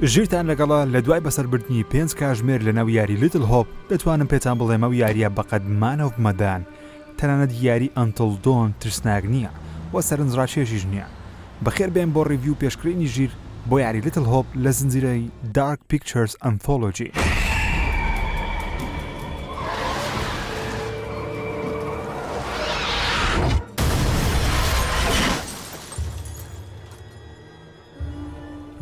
ژیرتان لەگەڵە لە دوای بەسەربردنی پێنج کاژمێر لە ناو یاری لیتل هۆپ دەتوانم پێتان بڵێمە و یاریە بەقەد مانەوە بمەدان تەنانەت یاری ئەنتڵ دۆن ترسناک نییە و سەرنجڕاکێشیش نییە بەخێر بێن بۆ ڕیڤی و پێشکرینی ژیر بۆ یاری لیتل هۆپ لە زنجیرەی دارک پیکچەرز ئەنثۆلۆجی.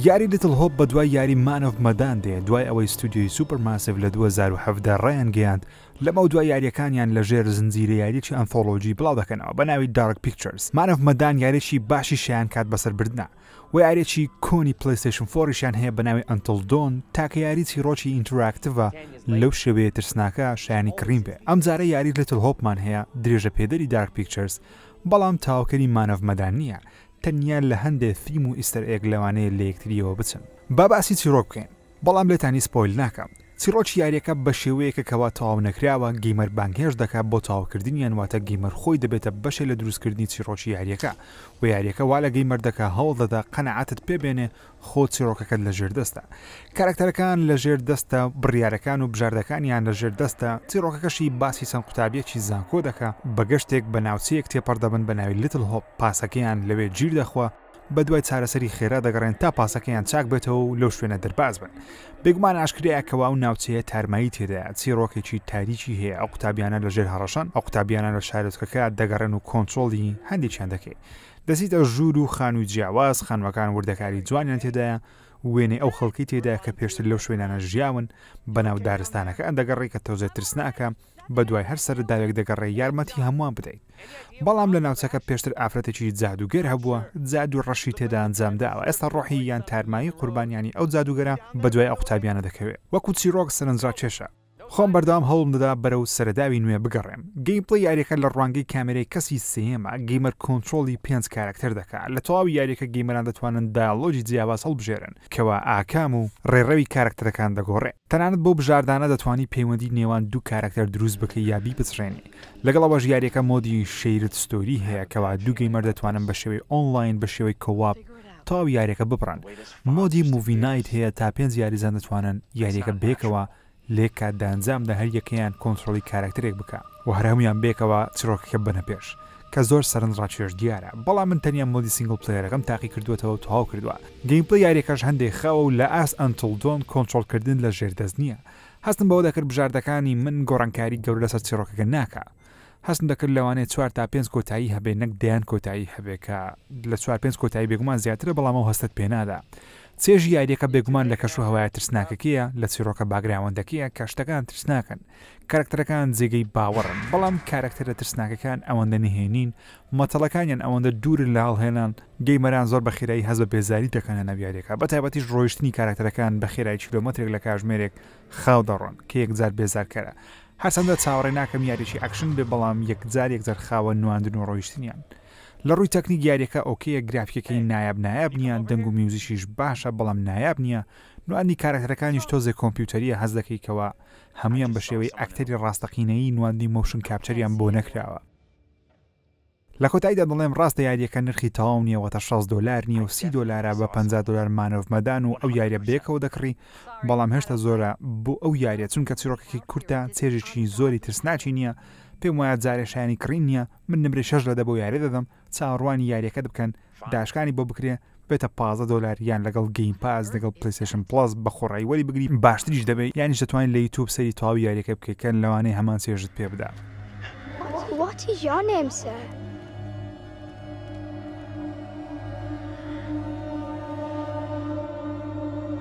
یاری لیتل هۆپ بە دوای یاری مانۆڤ مەدان دێ دوای ئەوەی ستودیۆی سوپەر ماسیف لە 2017 ڕیان گەیاند لەمە و دوای یاریەکانیان لە ژێر زنجیرە یاریی ئەنفۆلۆجی بڵاو دەکەنەوە بە ناوی دارک پیکچرز مانۆڤ مەدان یاریی باشی شیان کات بەسەر بردنا ویارێکی کۆنی پلیستشن فۆریشان هەیە بە ناوی ئەنتڵ دۆن تاکە یاری چیرۆکی ئینتراکتڤە لەو شێوەیە ترسناکە شایانی کڕین بێ ئەم جارە یاری لەتل هۆپمان هەیە درێژە پێدەری دارک پیکچرز بەڵام تاوکەری مانەڤمەدان نییە تەنیا لە هەندێ فیلم و ئیستەر ئێگ لەوانەیە لە یەکتریەوە بچن با باسی چیرۆک بکەین بەڵام لێتانی سپۆیل ناکەم چیڕۆکی یاریەکە بەشێوەیەکە کەوا تەواو نەکراوە گەیمەر بانگهێشت دەکات بۆ تەواوکردنیان واتە گەیمەر خۆی دەبێتە بەشێ لە دروستکردنی چیڕۆکی یاریەکە وە یاریەکە وا لە گەیمەر دەکا هەوڵ دەدا قەناعەتت پێ بێنێ خۆ چیڕۆکەکەت لە ژێر دەستە کارەکتەرەکان لە ژێر دەستە بڕیارەکان و بژاردەکانیان لە ژێر دەستە چیڕۆکەکەشی باسی چەند قوتابیەکی زانکۆ دەکا بە گەشتێک بە ناوچەیەک تێپەڕ دەبن بە ناوی لیتڵ هۆپ پاسەکەیان لەوێ گیر دەخوا بەدوای چارەسەری خێرا دەگەڕێن تا پاسەکەیان چاک بێتەوە و لەو شوێنە دەرباز بن بێگومان ئاشکرایە کەوا و ناوچەیە تارمایی تێدایە چیڕۆکێکی تاریکی هەیە ئەو قوتابیانە لە ژێر هەڕەشەن ئەو قوتابیانە لە شارۆچکەکە دەگەڕێن و کۆنتترۆڵی هەندێکیان دەکەی دەسیتە ژوور و خانووی جیاواز خانوەکان وردەکاری جوانیان تێدایە وێنەی ئەو خەڵکی تێدا کە پێشتر لەو شوێنانە ژیاون بەناو دارستانەکە ئەندەگەڕێکە تۆزێ ترسناکە بەدوای هەر سەرەداوێک دەگەڕێی یارمەتی هەمووان بدەیت بەڵام لە ناوچەکە پێشتر ئافرەتێکی جادووگەر هەبووە جادووی ڕەشی تێدا ئەنجام داوە ئێستا ڕۆحی یان تارمایی قوربانیانی ئەو جادووگەرە بەدوای ئەو قوتابیانە دەکەوێت وەکو چیرۆک سەرنجڕاکێشە خۆم بەردەوام هەوڵم دەدا بەرەو سەرەداوی نوێ بگەڕێم گەیمپڵەی یاریەکە لە ڕوانگەی کامێرەی کەسی سێیەمە گەیمەر کۆنترۆڵی پێنج کارەکتەر دەکات لە تەواوی یاریەکە گەیمەران دەتوانن دایەڵۆگی جیاواز هەڵبژێرن کەوا ئاکام و ڕێڕەوی کارەکتەرەکان دەگۆڕێ. تەنانەت بەو بژاردانە دەتوانی پەیوەندی نێوان دوو کارەکتەر دروست بکەی یا بیپچڕێنی. لەگەڵ ئەوەش یاریەکە مۆدی شەیرد ستۆری هەیە کەوا دوو گەیمەر دەتوانن بە شێوەی ئۆنڵاین بە شێوەی کۆواپ تەواو یاریەکە ببڕن. مۆدی موڤی نایت هەیە تا پێنج یاریزان دەتوانن یاریەکە بەیەکەوە لێک کە دەئەنجامدا هەر یەکەیان کۆنترۆڵی کارەکتەرێک بکا و هەر هەموویان بەیەکەوە چیڕۆکەکە ببەنە پێش کە زۆر سەرنج ڕاکێش دیارە بەڵام من تەنیا مۆدی سینگڵ پلەیەرەکەم تاقی کردووەتەوە و تەواو کردووە گەیمپلەی یاریەکەش هەندێک خاوە و لە ئاست ئەنتڵ دۆن کۆنترۆڵ کردن لە ژێر دەست نییە هەستم بەوە دەکرد بژاردەکانی من گۆڕانکاری گەورە لەسەر چیڕۆکەکە ناکا هەستم دەکرد لەوانەیە چوار تا پێنج کۆتایی هەبێ نەک دەیان کۆتایی هەبێ کە لە چوار پێنج کۆتایی بێگومان زیاترە بەڵام ئەو هەستت پێنادا چێژی یاریەکە بێگومان لە کەش و هەوایە ترسناکەکەیە لە چیرۆکە باگراوەندەکەیە کە شتەکان ترسناکەن کارکتەرەکان جێگەی باوەڕن بەڵام کارکتەرە ترسناکەکان ئەوەندە نهێنین مەتەڵەکانیان ئەوەندە دوورن لە هەڵهێنان گەیمەران زۆر بە خێرایی هەز بە بێزاری دەکەنە ناویارەکە بە تایبەتیش ڕۆیشتنی کارکتەرەکان بە خێرای کیلومترێک لە کاژمێرێک خاو دەڕۆن کە یەکجار بێزارکەرە هەرچەندە چاوەڕێ ناکەم یاریەکی ئەکشن بێ بەڵام یەکجار یەکجار خاوە نواندن و ڕۆیشتنیان لە ڕووی تەکنیک یاریەکە ئۆکەیە گرافیکەکەی نایاب نایاب نییە دەنگ و میوزیکیش باشە بەڵام نایاب نییە نواندنی کارەکتەرەکانیش تۆزێ کۆمپیوتەریە هەست دەکەی کەوا هەموویان بە شێوەی ئەکتەری ڕاستەقینەیی نواندنی مۆشن کاپچەریان بۆ نەکراوە. لە کۆتاییدا دەڵێم ڕاستە یاریەکە نرخی تەواو نیە واتە شەست دۆلار نیە و سی دۆلارە بە پەنجا دۆلار مان ئۆف مەدان و ئەو یاریە بەیەکەوە دەکڕی بەڵام هێشتا زۆرە بۆ ئەو یاریە چونکە چیڕۆکەکی کورتە چێژێکی زۆری ترسناکی نیە پێم وایە جارێ شایەنی کڕین نیە من نمرەی شەش لە دە بەو یاریە دەدەم چاوەڕوانی یاریەکەت بکەن داشکانی بۆ بکرێ بێتە پازە دۆلار یان لەگەڵ گەیم پاس لەگەڵ پلیسشن پڵس بە خۆڕایی وەری بگری باشتریش دەبێت یانیش دەتوانین لە یوتوب سەری تەواوی یاریەکە بکەکەن لەوانەیە هەمان چێژت پێ بدا. What is your name, sir?